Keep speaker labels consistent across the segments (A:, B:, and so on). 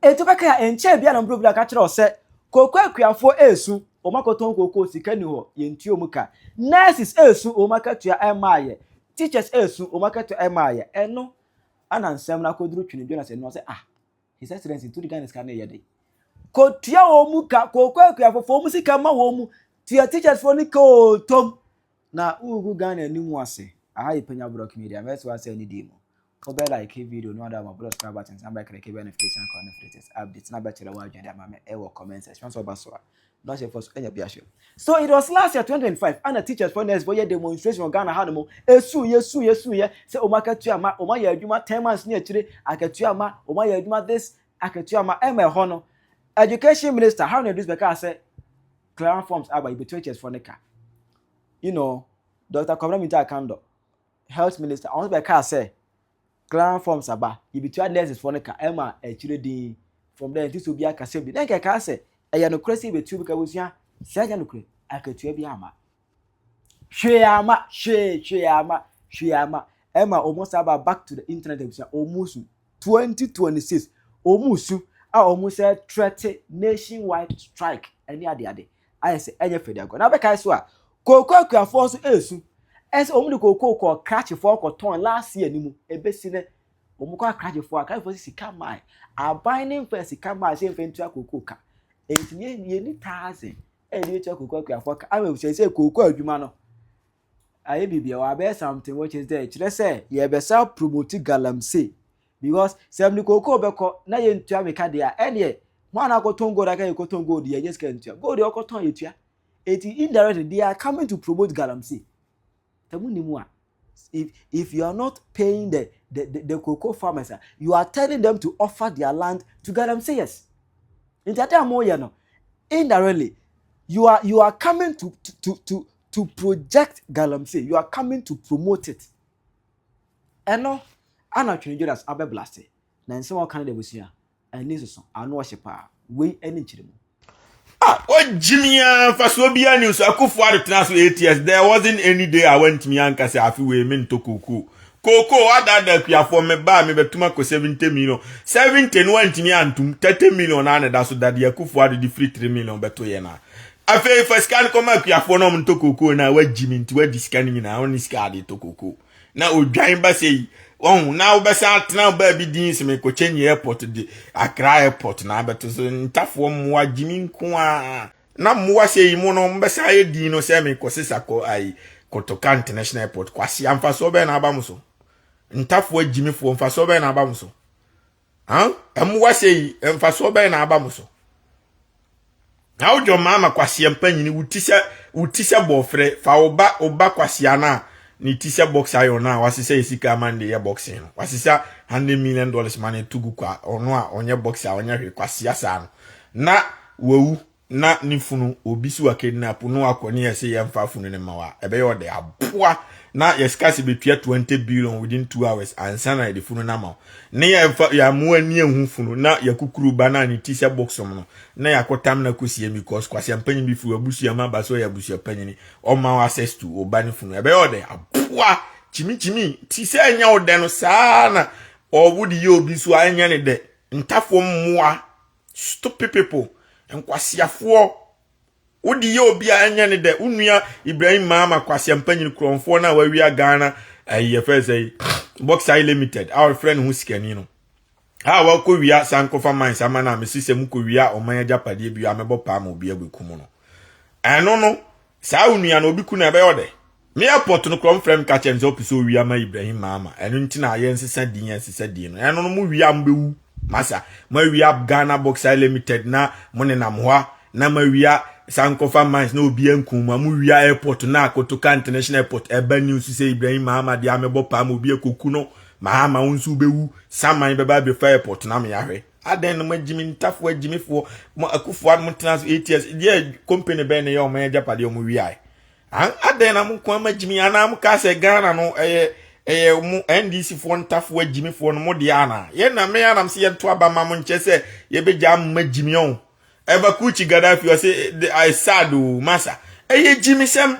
A: Enti ɔbɛkae a, ɛnkyɛe biara na mmerɛw bi na ɔka kyerɛɛ wɔn sɛ, Kooko akuafoɔ resu, wɔakɔtɔn kooko, sika nni hɔ, yɛntua wɔn ka. Nurses resu, wɔn akatua mmaeɛ. Teachers resu, wɔn akatua mmaeɛ. Ɛno na nsɛm no akɔduru Twene Jonas anim, ɔse, Ah, His Excellency, nti wode Ghana sika no reyɛ dɛn? Kɔtua wɔn mu ka, kooko akuafoɔ fa wɔn sika ma wɔn, tua teachers foɔ no ka oo, tom na wogu Ghana anim ase. Aha yɛ Penya Borɔk Media, mɛsoa nsɛm no dii mu. Wo bɛ like video no a na wa bɔ subscribe button san bɛ click bɛ notification icon no for latest updates na bɛ kyerɛ w'adwene de ama me ɛwɔ comment section sɛ ɔba so a na ɔhyɛ fɔ so ɛnyɛ bi ahyɛ. So it was last year 2025 ana teachers fɔ nurse fɔ yɛ demonstration wɔ Ghana hanom ɛsuuyɛ suuyɛ suuyɛ sɛ wɔn akatua ma wɔn ayɛ adwuma 10 months ne akyire akatua ma wɔn ayɛ adwuma this akatua ma ɛma ɛhɔ no education minister Haruna Idris bɛkaa sɛ clearance forms aba yɛbɛtua teachers fɔ ne ka you know Dr. Kwabena Minta Akandor health minister ɔno nso bɛkaa sɛ clan forms aba yɛbɛtua nurses foɔ no ka ɛma akyire din from there nti sɛ obi akasɛm bi na nka ɛkaa sɛ ɛyɛ nokorɛ sɛ yɛbɛtua obi ka bɛsua sɛ ɛnyɛ nokorɛ akatua bi ama hwee ama hwee hwee ama hwee ama ɛma ɔmo saa ba back to the internet abusua ɔmo su twenty twenty six wɔn su a wɔn sɛ trɛte nation wide strike ɛne adeade ayɛ sɛ ɛnyɛ fɛ deɛ na bɛkae so a kooko akuafoɔ nso ɛresu ɛsɛ wɔn de kooko kɔ krakyefoɔ kɔtɔn last year ni mu ɛbɛsi nɛ wɔn kɔ akrakyefoɔ akrakyefoɔ sɛ sika mae aban ne mfɛ sika mae sɛ mfɛ ntua kooko ka ɛnti yɛ ni taaze ɛne ɛtua kooko akuafoɔ ka ama sɛ sɛ kooko adwuma no ayɛ biribi a wabɛyɛ something which is there kyerɛ sɛ yɛbɛsa promote galamsey because sɛ mede kookoo bɛkɔ na yɛntua meka deɛ a ɛneɛ ho a na akɔtɔn gold aka yɛkɔtɔn gold yɛ nyɛ sika ntua gold yɛ ɔkɔtɔn yɛtua eti indirectly they are coming to promote galamsey sɛ mo nim a if if you are not paying the the the, the cocoa farmers a you are telling them to offer their land to galamseyers nti ade a mo yɛ no indirectly you are you are coming to to to to project galamsey you are coming to promote it ɛno ana twene jonas abɛ blaste na nsɛm a ɔka no da abusua ani soso ano ɔhye paa wei ɛne nkyerɛ mu Ah,
B: wogyimi a mfasoɔ biara ni so akufo ado tena so eight years there wasn't any day a wantumi anka sɛ afe wei mentɔ kookoo kookoo wadaadaa akuafoɔ meba a mebɛtom akɔ 70 million 70 no wantumi antom 30 million a na ɛda so dadeɛ akufo ado de firi 3 million bɛto yɛn a afei fa sika no kɔma akuafoɔ na ɔmo ntɔ kookoo na wagyi mi nti wadi sika no nyinaa ɔne sika ade tɔ kookoo na odwan ba sɛ yi wɔn na wobɛsan atena baabi din sɛ mekɔkyɛ nyi airport de akra airport na abɛto so ntafoɔ mmoa gye mi nko a na mmoa sɛ yi mu no mbɛsan ayɛ din no sɛ mekɔ sesa kɔ ayi kɔtɔka international airport kwasi amfasoɔ bɛn na aba mo so ntafoɔ agyimifoɔ mfasoɔ bɛn na aba mo so mmoa sɛ yi mfasoɔ bɛn na aba mo so na wodwo mmaa ma kwaseɛ mpanyini wo ti sɛ wo ti sɛ bɔɔfrɛ fa wo ba wo ba kwaseɛ no a ne ti sɛ box iron no a wasesa yɛ sika ama no de yɛ boxing no wasesa hundred million dollars ma no to gu kwa ɔno a ɔnyɛ boxer a ɔnyɛ hwee kwaseɛ saa no na wawu na ne funu obi si wakidnap no akɔ ne yɛsɛ yɛmfa funu no ma wa ɛbɛyɛ ɔde aboa na yɛsika sɛ bɛtua 20 billion within 2 hours ansa na yɛde funu no ama wo ne yɛmfa yɛamoa ni ahu funu na yɛkukuru ba na ne ti sɛ bɔksom no na yɛakɔtam na kɔsie because kwasea mpanyin bi firi wabusua ma ba sɛ ɔyɛ abusua panyini ɔma wo access to wo ba ne funu ɛbɛyɛ ɔde aboa kyimikyimi ti sɛ ɛnyɛ wo dɛ no saa na ɔwo de yɛ obi so a ɛnyɛ ne dɛ ntafoɔ mmoa Stupid people. Nkwaseafoɔ. Wode yɛ obiara ɛnyɛ ne dɛ. Wo nua Ibrahim Maama kwasea mpanyin kurɔnfoɔ no a wawia Ghana ayi eh, yɛfɛ sɛ Boxai Limited a ɔfrɛ ne ho sikani no. A wakɔ wia sankofa mines ama no a mesi sɛ mokɔ wia ɔman agyapadeɛ bi a mɛbɔ paa ma obi agu kumu no. Ɛno no saa wo nua no obi ku no ɛbɛyɛ ɔdɛ. Me airport no korɔ mfrɛ me ka kyerɛ me sɛ ɔpɛ sɛ ɔwi ama Ibrahim Mahama ɛno nti na yɛ nsesa din yɛ nsesa din no ɛno no mo wia mo bɛwu masa mo awia Ghana Boxer Limited na mo nenam hɔ a na mo awia Sankofa Mines na obi ankum mo mo wia airport na Kotoka International Airport ɛba news sɛ Ibrahim Mahama deɛ amebɔ paa ma obi akoku no Mahama wo nso wobɛwu saman bɛba abɛfa airport na me ahwɛ adɛn no magyimi ntafo agyimifoɔ mo akufoɔ no mo tena so 8 years deɛ company bɛn ne yɛ ɔmo agyapadeɛ ɔmo wiae An adɛn na mo nko ara magyimi anaa mokaa sɛ Ghana no ɛyɛ ɛyɛ mo NDC foɔ ntafoɔ agyimifoɔ no mo deɛ anaa? Yɛn na me anam sɛ yɛnto aba ma mo nkyɛ sɛ yɛbɛgyaa mo magyimi ɔn. Ɛba Kuchi Gaddafi ɔse the I sad o masa ɛyɛ gyimisɛm.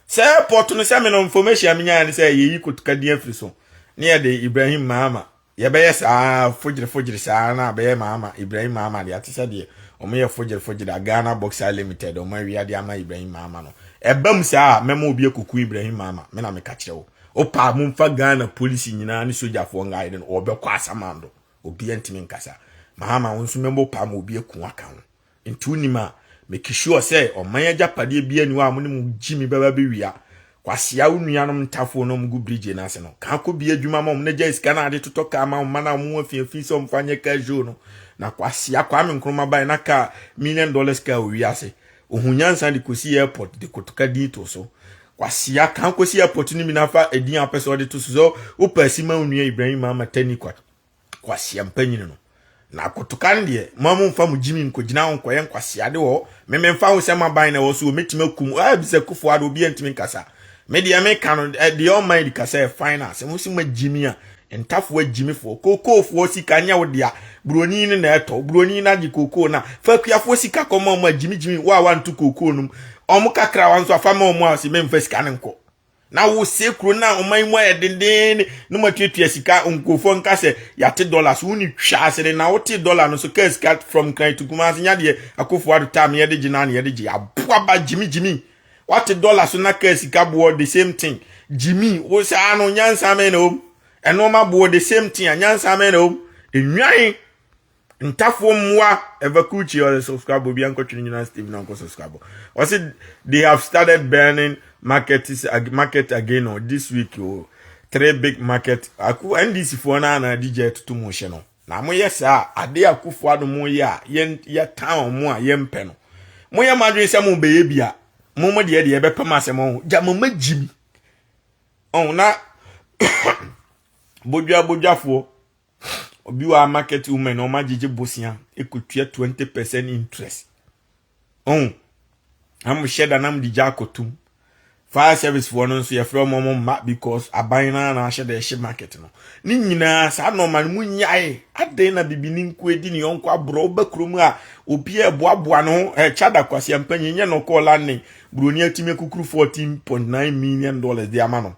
B: Sɛ airport no sɛ me no information a menyaeɛ ne sɛ yɛyi kotoka din afiri so ne yɛde Ibrahim Mahama Yɛbɛyɛ saa fogyere fogyere saa na abɛyɛ maama Ibrahim maama deɛ ate sɛ deɛ wɔn yɛ fogyere fogyere a Ghana Boxer Limited wɔn awia de ama Ibrahim maama no ɛba mu saa a mɛma obi akuku Ibrahim maama me na meka kyerɛ wo opa mo mfa Ghana polisi nyinaa ne sogyafoɔ nga ayɛ no wɔbɛkɔ asamando obi ntumi nkasa maama wo nso mɛma opa ma obi aku aka ho Nti wonim a make sure sɛ ɔman agyapadeɛ biaa ni hɔ a mo ne mo gyi me bɛba bɛwia. Kwasea wo nuanom ntafoo na ɔmo gu bridge no ase no, kaa kɔ bia adwuma ma ɔmo na gyae sika no a de totɔ kaa ma wo mma no a ɔmo ho afi afi sɛ ɔmo fa nyɛ car show no. Na kwasea, Kwame Nkrumah bae na kaa, million dollars car wɔ wiase. Ohuu nyansa de kɔsii airport de kotoka din too so. Kwasea, kaa kɔsi airport no bi na fa edin a wopɛ sɛ ɔde to so, sɛ wopɛ Asi ma wo nua Ibrahim Mahama Tani Kwat. Nkwasea mpanyin no. Na akotokan deɛ, mo a momfa mo gyimi nkɔgyina hɔ nkɔyɛ nkwaseade wɔ hɔ. Me memfa ho sɛ maban na ɛwɔ so, wɔbɛtumi akum. Ah, bisa Kufuor Addo, obiara ntumi nkasa. Me deɛ meka no, eh, deɛ ɔman di kasa yɛ fine a, sɛ mo se magyimi a, ntafoɔ agyimifoɔ, kookoofoɔ sika nyɛ wo dea, buroni no na ɛtɔ, buroni no agye kookoo no a, fa akuafoɔ sika kɔma wɔn a gyimigyimi wo a wanto kookoo no mu, wɔn kakrawa nso a, fa ma wɔn a wɔse memfa sika no nkɔ. na wosɛ kuro no a ɔman yi mu ayɛ dendenne na moatuatua sika nkurɔfoɔ nka sɛ yɛate dɔla so wone twa ase de na wote dɔla no so kaa sika from kran to kuma ase nya deɛ akɔfo ado taa me yɛde gye naa na yɛde gye aboa ba gyimi gyimi wate dɔla so na kaa sika boɔ the same thing gyimi wo saa no nyansa mɛn na wɔm ɛnoɔma boɔ the same thing a nyansa mɛn na wɔm enwan Ntafoɔ mmoa Evacuchi ɔyɛ subscribe obi ankɔtwe ne nyinaa Steve na nkɔ subscribe ɔsi they have started burning market market again o this week o three big market aku NDC foɔ no ana adi gya atutu mu hyɛ no na mo yɛ saa ade akufo ado mo yɛ a yɛn yɛ town mo a yɛn pɛ no mo yɛ mo adwene sɛ mo bɛyɛ bi a mo mo deɛ deɛ ɛbɛpɛ mo asɛm ɔho gya mo ma gyi mi ɔho na bodwa bodwafoɔ obi wɔ a market woman na wɔagyegye bosia ekotua twenty percent interest ɔn ɛmo hyɛ da nam de gya akɔtum fire service foɔ no nso yɛfrɛ wɔn wɔn mma because aban no ara na ahyɛ da ɛhyɛ market no ne nyinaa saa nɔɔma no mu nyae adan na bibi ne nko edi ne yɔnko aborɔ ɔba kurom a obi a ɛboaboa no ɛkyɛ eh, da kwasi mpanyin nyɛ no kɔɔ landing buroni atumi akukuru fourteen point nine million dollars de ama no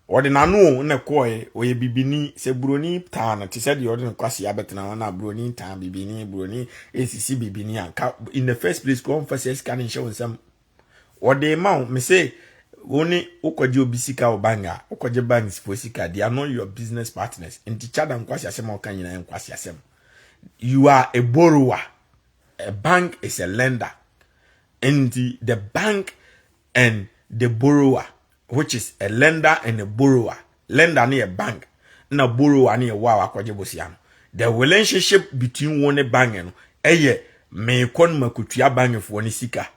B: Ɔde n'ano na ɛkɔɔe, ɔyɛ bibini. Sɛ buroni taa no, te sɛ deɛ ɔde ne kwasea bɛtena hɔ no a, buroni ntaa bibini, buroni nsisi bibini a, nka in the first place kora ɔmfa saa sika no nhyɛ wo nsam. Ɔde ma wo, me se, wo ne wokɔgye obi sika wɔ bank a, wokɔgye banksfoɔ sika, they are not your business partners. Nti Chada nkwaseasɛm a ɔka nyinaa yɛ nkwaseasɛm. You are a borrower, a bank is a lender. Nti the bank and the borrower which is a lender and a borrower lender no yɛ bank na borrower no yɛ wo a wakɔgye bosia no the relationship between wo ne bank no ɛyɛ meekɔ no makotua bankfoɔ no sika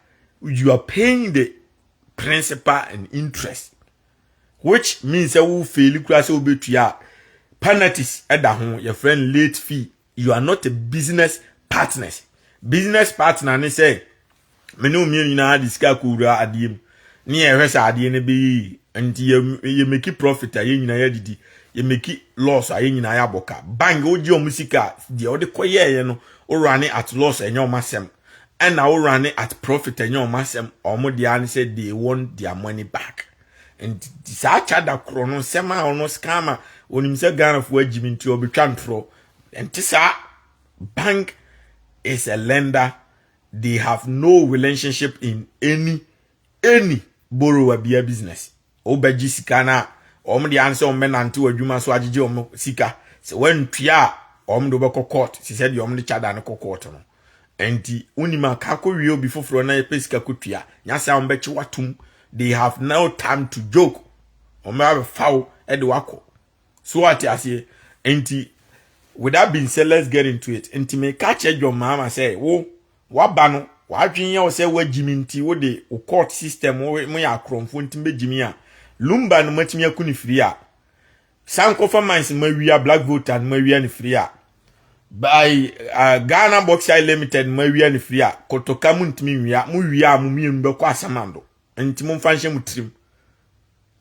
B: you are paying the principal and interest which means sɛ wo faili kura sɛ wobɛtua penalties ɛda ho yɛfrɛ no late fee you are not a business partners business partner ne sɛ me ne mmienu nyinaa de sika kɔwura adeɛ mu ne yɛhwɛ sɛ adeɛ no bɛyɛ nti yɛmɛki profit a yɛn nyinaa yɛadidi yɛmɛki loss a yɛn nyinaa yɛabɔ ka bank wogye ɔmo sika a deɛ wode kɔyɛɛyɛ no wowura ne at loss ɛnyɛ ɔmo asɛm ɛna wowura ne at profit ɛnyɛ ɔmo asɛm ɔmo deɛ ne sɛ they want their money back nti saa kya da korɔ no nsɛm a ɔno sika ama onim sɛ ghanafoɔ agyimi nti ɔbɛtwa ntorɔ ɛnte saa bank is a lender they have no relationship in any any borrower bia business wobɛgye sika no a wɔn de ansɛ wɔn bɛnante wɔ adwuma so agyegye wɔn sika sɛ wɔantua a wɔn de wobɛkɔ court sɛ sɛ deɛ wɔn de kya da no kɔ court no Ɛnti wonim a ka kɔ wie obi foforɔ na yɛpɛ sika kɔ tua. Nya sɛ a wɔn bɛkye watum. They have no time to joke. Wɔn bɛ abɛfa wo ɛde wakɔ. So wate aseɛ? Ɛnti with that being said let's get into it. Ɛnti me ka kyerɛ John Mahama sɛ wo waba no wadwen yɛ wo sɛ wagyimi nti wo de wo court system wo mo yɛ akorɔmfoɔ nti bɛgyimi a lumba no matumi aku ne firi a San kɔfa mines ma wia black volta no ma wia ne firi a by uh, Ghana Bauxite Limited no ma wia ne firi a kotoka mu ntumi nwia mo wia a mo mmienu bɛkɔ asamando nti mo mfa nhyɛ mo tirim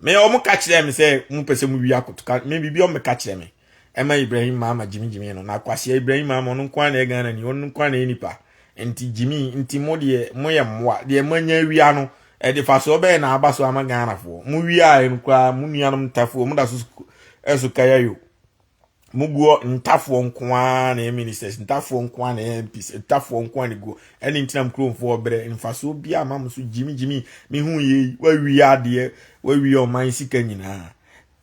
B: me ɔmo ka kyerɛ me sɛ mo pɛ sɛ mo wia kotoka me biribi ɔmo ka kyerɛ me ɛma Ibrahim Mahama gyimigyimi no na akwasea Ibrahim Mahama ɔno nko ara na ɛyɛ Ghana ni ɔno nko ara na ɛyɛ nipa Nti gyimii, nti mo deɛ moyɛ mmoa, deɛ moanya awia no, ɛde fasoɔ bɛn na aba so ama Ghanafoɔ? Mo wiaeɛ no koraa, mo nuanom ntafoɔ, mo da so ɛso kaya yo. Mo guɔ ntafoɔ nko ara na ɛyɛ ministers, ntafoɔ nko ara na ɛyɛ MPs, ntafoɔ nko ara na guɔ. Ɛne ntina mo kuromfoɔ brɛ, mfasoɔ biara ma mo so gyimi gyimi, mehu yɛ yi, wawia adeɛ, wawia ɔman sika nyinaa.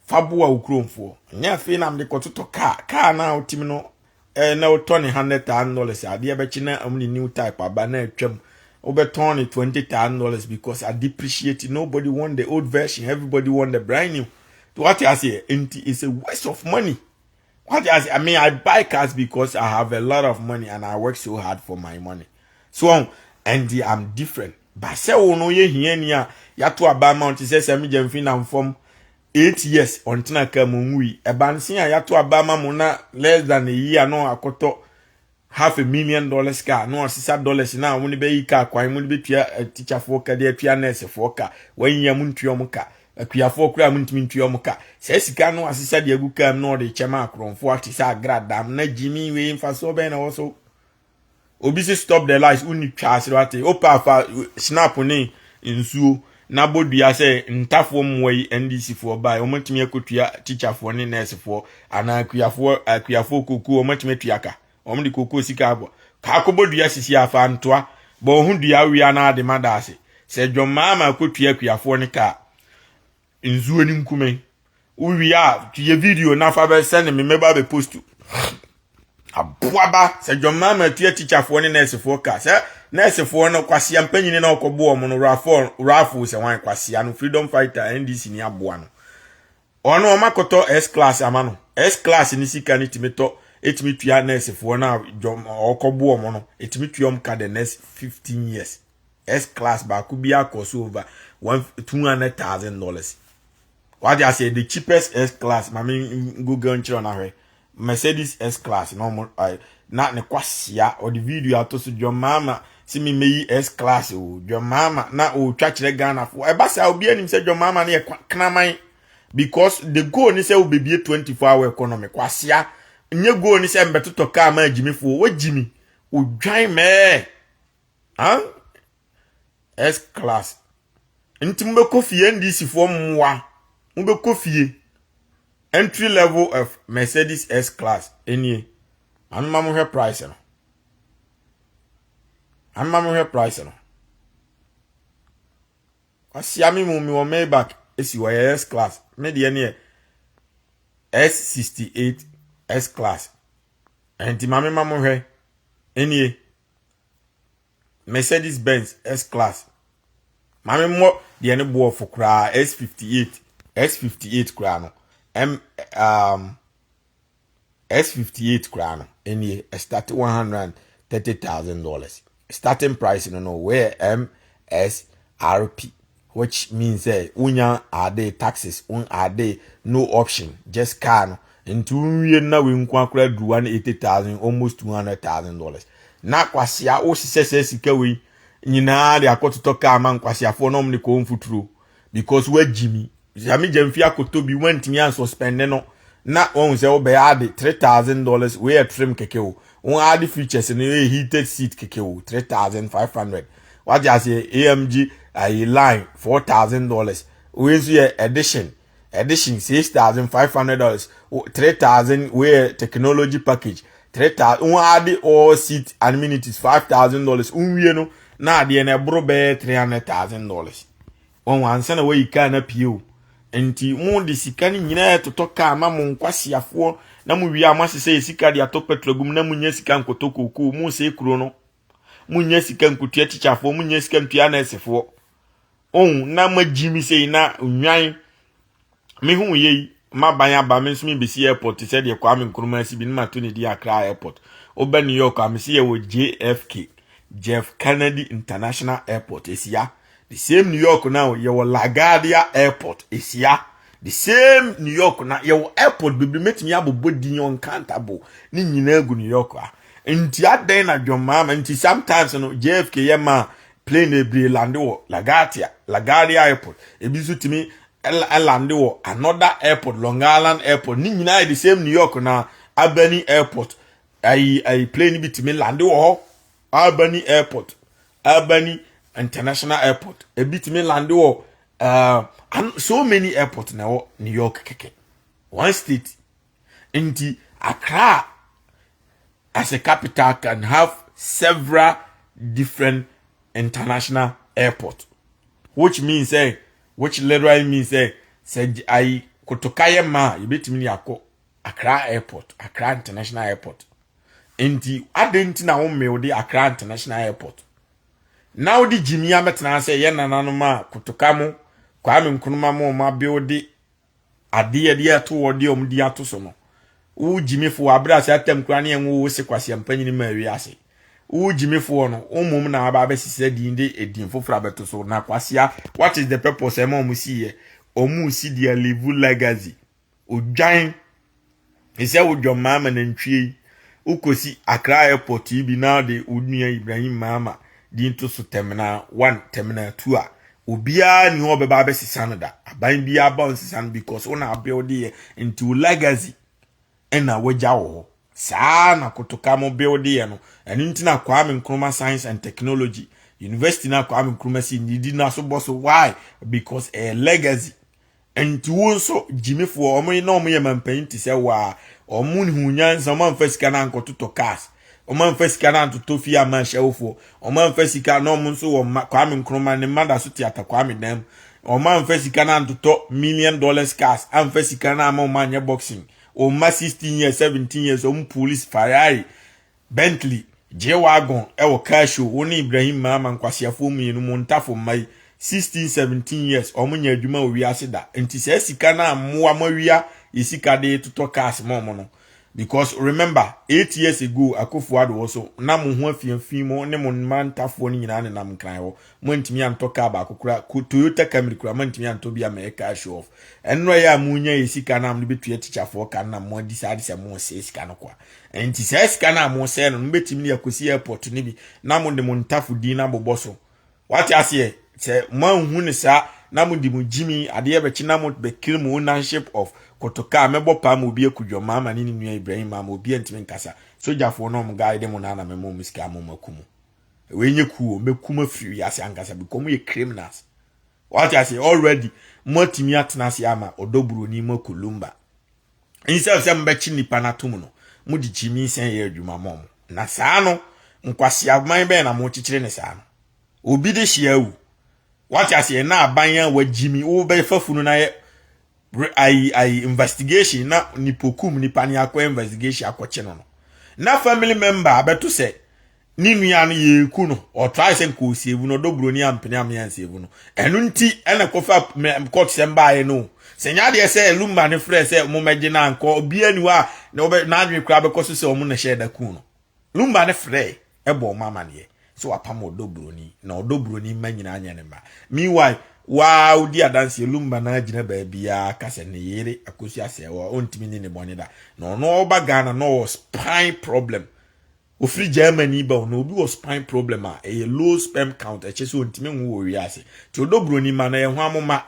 B: Fa boa wo kuromfoɔ. Nyɛ afei na mede kɔtotɔ kaa, kaa no a wotim no Eh, na wotɔ ne hundred thousand dollars adeɛ bɛkye na ɔmo ne new type aba na atwam wobɛtɔn ne twenty thousand dollars because a depreciate nobody want the old version everybody want the brand new what I say nti it's a waste of money what I say I mean I buy cars because I have a lot of money and I work so hard for my money so um, and the, I'm different but sɛ wo no yɛ hia ni a yato aba ma ɔte sɛ sɛ megya mfi na mfam eight years ɔntena kaa mu nwui ɛbansen a yɛato aba ama mo na less than a year no akɔtɔ half a million dollars car na ɔsesa dollars na wɔn bɛyi car kwan mo de bɛtua eh, tikyafoɔ ka de atua nɛɛsefoɔ ka wɔn nyia mo ntua wɔn ka akuafoɔ koraa mo ntumi ntua wɔn ka saa sika no asesa de agu kaa mu na ɔde kyɛ ma akorɔmfoɔ ate sɛ agradam na gyimi wei mfasoɔ bɛn na ɛwɔ so obi si stop the lights wonni twa ase wate wopɛ afa snap ne nsuo na bɔdua sɛ ntafoɔ mmoa yi ndcfoɔ bae wɔmatumi akɔtua tikyafoɔ ne nɛɛsefoɔ anaa akuafoɔ akuafoɔ kokuo wɔmatumi atua ka wɔn de kokuo sika abɔ kaakɔbɔ dua sisi afa ntoa bɔ ho dua wia na ade ma daase sɛ dwɔmmaa ma akɔtua akuafoɔ ne kaa Nsuo no nkume. Wowie a yɛ video na fa bɛ send me mɛba bɛ post. Aboaba sɛ John Mahama atua tikyafoɔ ne nɛɛsefoɔ ka sɛ nɛɛsefoɔ no kwasia mpanyini na ɔkɔ boɔ ɔmo no rafoɔ rafoɔ sɛ wan kwasia no freedom fighter NDC ni aboa no. Ɔno ɔma kɔtɔ S class ama no. S class ne sika no tumi tɔ ɛtumi tua nɛɛsefoɔ no a John ɔkɔ boɔ ɔmo no ɛtumi tua ɔmo ka the next 15 years. S class baako bi akɔ so over one two hundred thousand dollars wade aseɛ the cheapest S class maame google nkyerɛ ɔna hwɛ Mercedes S class na ɔmo ayi na ne kwasia ɔde video ato so John Mahama si mi meyi S class o John Mahama na ɔretwa kyerɛ Ghana fo ɛba saa obi anim sɛ John Mahama no yɛ kraman because the goal ne sɛ wobɛbie 24 hour economy kwasia nye goal ne sɛ mbɛtotɔ kaa ma agyimifoɔ wagyimi odwan mɛɛ Huh? S class. Nti mobɛkɔ fie NDC foɔ mmoa. Mobɛkɔ fie. Entry level of Mercedes S class. Enie. Mame ma mohwɛ price no. Mame ma mohwɛ price no. Wasia me mu me wɔ Maybach esi wɔ yɛ S class. Me deɛ neɛ S68 S class. Nti mame ma mohwɛ. Enie. Mercedes Benz S class. Maame mmɔ deɛ ne boɔ fo koraa S58 S58 koraa no M um, S58 koraa no ɛnie ɛstarte one hundred and thirty thousand dollars starting price no no wɔyɛ MSRP. Which means sɛ wonya ade taxes wo ade no option just car no nti wonwie na wei nko akora aduru 180,000 almost 200,000 dollars na kwasea wohyehyɛ sɛ sika wei nyinaa de akɔtotɔ car ma nkwaseafoɔ na wɔn de kɔɔ mfuturo because woagyi mi sɛ megya mfi akɔtɔ bi woantumi ansuspende no na wɔn sɛ wobɛyɛ ade 3,000 dollars wei yɛ trim keke o wɔn ade features no yɛ heated seat keke o 3,500 wate aseɛ amg ayi line four thousand dollars wei nso yɛ edition edition six thousand five hundred dollars three thousand wei yɛ technology package three thousand wɔn adi all seat amenities five thousand dollars nwie no na adeɛ no ɛboro bɛyɛ three hundred thousand dollars wɔn ansa na wɔyi kaa na pie o nti mo de sika no nyinaa totɔ kaa na mo nkwasiafoɔ na mo wie a mo asesɛ yɛ sika de atɔ petrol gum na mo nya sika nkɔtɔ kookoo mo sɛ kuro no Munya sika nkotua tikyafoɔ, munya sika ntua nɛɛsefoɔ. Ohun na magyi me sei na nnwan mehu yɛ yi maban aba me nso mebɛsi airport te sɛ deɛ Kwame Nkrumah si bi ne mato ne di Accra airport. Wobɛ New York a mesi yɛwɔ JFK, Jeff Kennedy International Airport, asia. the same new york na yɛwɔ laguardia airport ɛsia the same new york na yɛwɔ airport bebree mɛtumi abobɔ din uncountable ne nyinaa gu new york a nti adɛn na dwɔmmaa ma nti sometimes no jfk yɛ ma plane bebree lande wɔ laguardia laguardia airport ebi nso tumi lande wɔ another airport long island airport ne nyinaa yɛ the same new york na albany airport ayi ayi plane bi tumi lande wɔ hɔ albany airport Albany International Airport. Ebi tumi lande wɔ uh, and so many airport na ɛwɔ New York kɛkɛ. One state. Nti Accra as a capital can have several different international airport. Which means eh, which literally means eh, sɛ ayi kotoka yɛ ma a yɛbɛtumi de akɔ Accra Airport, Accra International Airport. Nti adɛn nti na wo mmeo de Accra International Airport? Na wode gyimi abɛtena ase ɛyɛ nananom a kotoka mo Kwame Nkrumah mo ɔma beo de adeɛ de ato wɔ de ɔmo di ato so no. Wo gyimifoɔ abere ase atam kura ne ɛnwo wo se kwasi ampanyini ma awi ase. Wo gyimifoɔ no wo mmom na aba abɛsisi adin de edin foforɔ abɛto so na kwasia what is the purpose ɛma ɔmo si yɛ ɔmo si their live legacy Odwan te sɛ wo John Mahama nantwie yi, wokɔsi Accra airport yi bi na wode wo nua Ibrahim Mahama din to so terminal one, terminal two a, obiara ni hɔ ɔbɛba abɛsesa no da. Aban biara ba ɔnsesa no because wo na abuilde yɛ nti wo legacy ɛna wagya wɔ hɔ. Saa na kotoka mo builde yɛ no. Ɛno nti na Kwame Nkrumah Science and Technology University na Kwame Nkrumah si ne di na so bɔ so why because ɛyɛ legacy Nti wo nso gyimifoɔ wɔn na wɔn yɛ mampanyin te sɛ waa wɔn hu nyansa wɔn amfa sika no ankɔtotɔ cars wɔn amfa sika no antotɔ fie ama ahyɛwofoɔ wɔn amfa sika na wɔn nso wɔn mma Kwame Nkrumah ne mma da so te ata Kwame dan mu wɔn amfa sika no antotɔ million dollars cars amfa sika no ama wɔn anyɛ boxing wɔn mma sixteen years seventeen years wɔn police Ferrari Bentley, G-Wagon wɔ car show wo ne Ibrahim Maama nkwaseafoɔ mmienu mo ntafo mma yi 16 17 years wɔn nyɛ adwuma wɔ wiase da nti saa sika no ammoa mo awia yɛ sika de totɔ cars ma wɔn no because remember 8 years ago Akufo Addo wɔ so na mo ho afiafi mo ne mo mma ntafoɔ no nyinaa nenam nkran hɔ mo antumi antɔ car baako kora Toyota Camry kora mo antumi antɔ bi ama yɛ car show off ɛnora yɛ a mo nya yɛ sika no a mo de bɛtua tikyafoɔ ka no na mo decide sɛ mo sɛ sika no kwa Enti saa sika no a mosɛe no no bɛtumi de akɔsi airport no bi na mode mo ntafo din no abobɔ so. Wate aseɛ? Sɛ moanhu no saa na mode mo gyimi adeɛ bɛkye na mobɛ claim mo ownership of kotoka a mɛbɔ paa ma obi aku John Mahama ne ne nua Ibrahim Mahama obiara ntumi nkasa. Sogyafoɔ no a wɔn guide mo no ara na mɛma wɔn sika ama wɔn aku mo. Wei nyɛ ku o, mɛku mo afiri wiase ankasa because moyɛ criminals. Wate aseɛ? Already moatumi atena ase ama ɔdɔ buroni moakɔ lumba. Instead of sɛ mobɛkye nnipa no atom no, mode gyimi sɛn yɛ adwuma ma ɔmo. Na saa no, nkwaseaman bɛn na mokyekyere ne saa no? Obi de hyia awu. Wate aseɛ na aban a wagyimi wobɛfa funu no ayɛ ayi ayi investigation na nipokum nipa ne akɔ investigation akɔkye no no. Na family member abɛto sɛ ne nua no yɛku no ɔtrae sɛ nka ɔsievu no ɔdɔ buroni ampene ame ansievu no ɛno nti ɛna kɔfa kɔtsɛm baeɛ no sɛ nyɛ adeɛ sɛ lumba ne frɛ sɛ ɔmo mɛgye no ankɔ obiara ni hɔ a na ɔbɛ n'adwene koraa bɛkɔ so sɛ ɔmo na hyɛɛ da kuu no lumba ne frɛ ɛbɔ ɔmo amaneɛ sɛ wapam ɔdɔ buroni na ɔdɔ buroni mma nyinaa nyɛ ne mma meanwhile waa odi adanseɛ lumba na agyina baabiara ka sɛ ne yere akosi asɛe ɔntumi ni ne bɔne da na ɔno ɔba Ghana na ɔwɔ spine problem Ofiri Germany ba o, na obi wɔ spine problem a ɛyɛ low sperm count, ɛkyɛ sɛ ontumi nwo wɔ wiase. Nti odɔ buroni mma no, ɛyɛ hwan mo mma?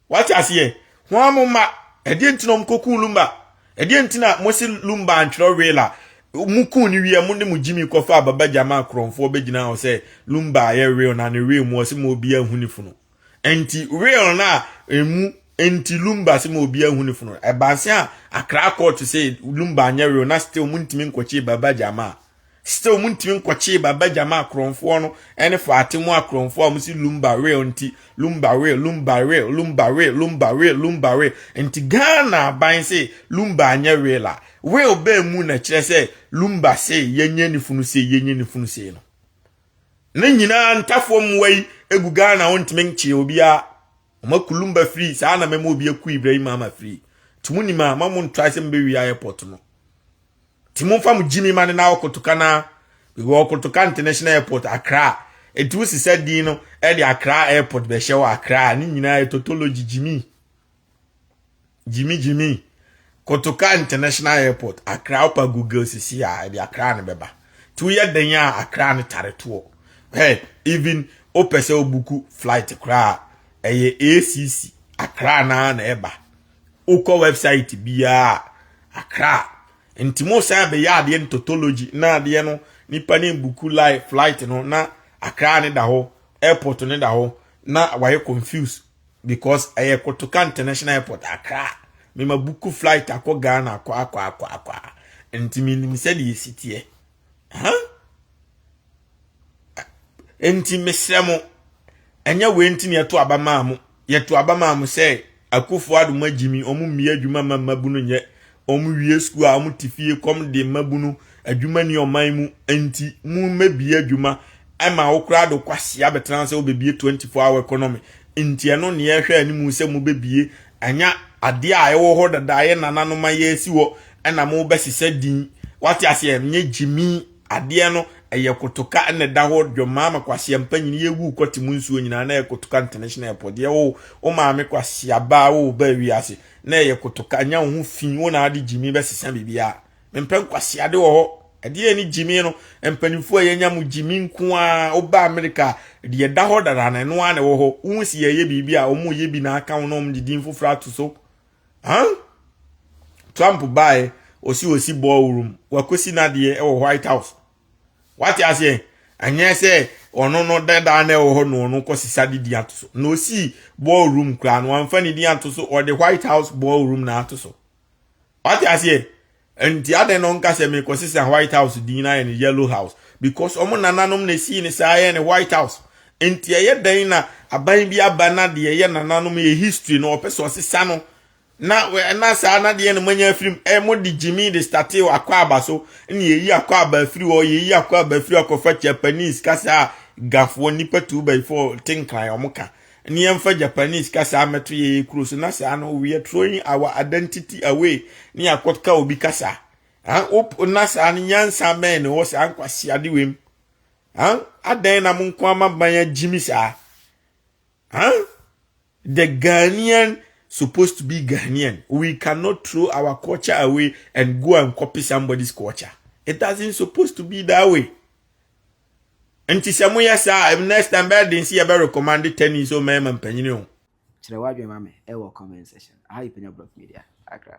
B: Wate aseɛ? Hwan mo mma? Ɛdeɛ nti na ɔmkɔkuu Lumba? Ɛdeɛ nti na mose Lumba antwerɛ will a, mokuu no wie a mode mo Jimmy kɔfaa Baba Gyama a korɔmfoɔ bɛgyinaa hɔ sɛ Lumba ayɛ will na ne will mu ɔse ma obiaa nhu ne funu? Enti wheel no a emu nti lumba se ma obi ahu ne funu no, ɛbaa se a Accra court se lumba anyɛ wheel na still montumi nkɔkyee Baba Jamaa. Still montumi nkɔkyee Baba Jamaa korɔmfoɔ no ne Faatimo akorɔmfoɔ a wɔse lumba wheel nti lumba wheel, lumba wheel, lumba wheel, lumba wheel, lumba wheel. Enti Ghana aban se lumba anyɛ wheel a, wheel baa mu na ɛkyerɛ sɛ lumba se yɛnyɛ ne funu sei, yɛnyɛ ne funu sei no. ne nyinaa ntafoɔ mmoa yi gu ghana wɔntumi nkyee obiara wɔn akulumba firi saa na mɛma obi aku ibrahim ama firi nti mo nim a ma mo ntrae sɛ mobɛwia airport no nti momfa mo gyimi ma ne na ɔkotoka no a wɔ ɔkotoka international airport akra nti wosi sɛ din no ɛde akra airport bɛhyɛ wɔ akra ne nyinaa yɛ totology gyimi Jimmy Jimmy kotoka international airport akra opa google sisi a ɛde akra no bɛba to yɛ den a akra no tare toɔ hɛ even opɛ sɛ obuku flight koraa ɛyɛ acc akra naa na ɛba wokɔ website biara akra nti mo san bɛyɛ adeɛ no totology na adeɛ no nipa ne buku live flight no na akra ne da hɔ airport ne da hɔ na wayɛ confuse because ɛyɛ kotoka international airport akra mema buku flight akɔ ghana akɔ akɔ akɔ akɔ nti menim sɛdeɛ ɛsi teɛ huh? nti mesrɛ mo ɛnyɛ wei nti ne yɛto aba maa mo yɛto aba maa mo sɛ akufo adoma gyimi ɔmo mmea adwuma ma mmabunu nyɛ wɔwie sukuu a wɔte fie kɔm de mmabunu adwuma ni ɔman mu nti mu mmɛbie adwuma ɛma wo koraa do kwasi abɛtena sɛ wobɛbie 24 hour economy nti ɛno ne yɛhwɛ anim sɛ mu bɛbie anya adeɛ a ɛwɔ hɔ dada yɛ nananom a yɛsi hɔ ɛna mo bɛsesɛ din wate aseɛ nyɛ gyimi adeɛ no ɛyɛ kotoka ɛna ɛda hɔ dwɔmaa ma kwasi ampa nyini yɛwu kɔte mu nsuo nyinaa na ɛyɛ kotoka international airport deɛ wo wo maame kwasi abaa wo ba wiase na ɛyɛ kotoka nya wo ho fi wo na ade gyimi bɛsesa biribiara mempɛ nkwaseade wɔ hɔ ɛdeɛ ne gyimi no mpanimfoɔ a yɛnya mu gyimi nko a woba amerika deɛ ɛda hɔ dada na ɛno ara na ɛwɔ hɔ wohu si yɛyɛ biribi a wɔn yɛ bi na aka wo na wɔn de din foforɔ ato so huh? trump baeɛ ɔsi ɔsi ballroom wakɔsi n'adeɛ ɛwɔ white house wate aseɛ ɛnyɛ sɛ ɔno no dadaa na ɛwɔ hɔ na ɔno kɔ sisa de di ato so na osi ball room koraa no anfa ne di ato so ɔde white house ball room na ato so wate aseɛ nti adɛn na ɔnka sɛ mekɔ sisa white house din na ayɛ ne yellow house because ɔmo nananom na esii ne saa yɛ ne white house nti ɛyɛ dɛn na aban bi aba na deɛ ɛyɛ nananom yɛ history na ɔpɛ sɛ ɔsesa no Na na saa na deɛ na moanya afiri mu. Ɛ mode gyimi de statee akwaaba so. Ɛna yɛyi akwaaba afiri hɔ, yɛyi akwaaba afiri akɔfa Japanese kasa a gafoɔ nnipa tu ba fɔ te nkran wɔn ka. Ne yɛmfa Japanese kasa mmɛto yɛyɛ kuro so. Na saa no, we are throwing our identity away ne yɛakɔka obi kasa. Huh? Wop, na saa no, nyansa bɛn na ɛwɔ saa nkwaseade wei mu? Huh? Adɛn na mo nko ama ban agyimi saa? Huh? The Ghanaian supposed to be Ghanaian we cannot throw our culture away and go and copy somebody's culture it doesn't supposed to be that way. Nti sɛ moyɛ saa next time bɛyɛ den si yɛ bɛ recommend tennis so mmarima mpanyini o. Kyerɛ w'adwene
A: ma me ɛwɔ comment section. Aha yɛ Panya Blog Media, Accra.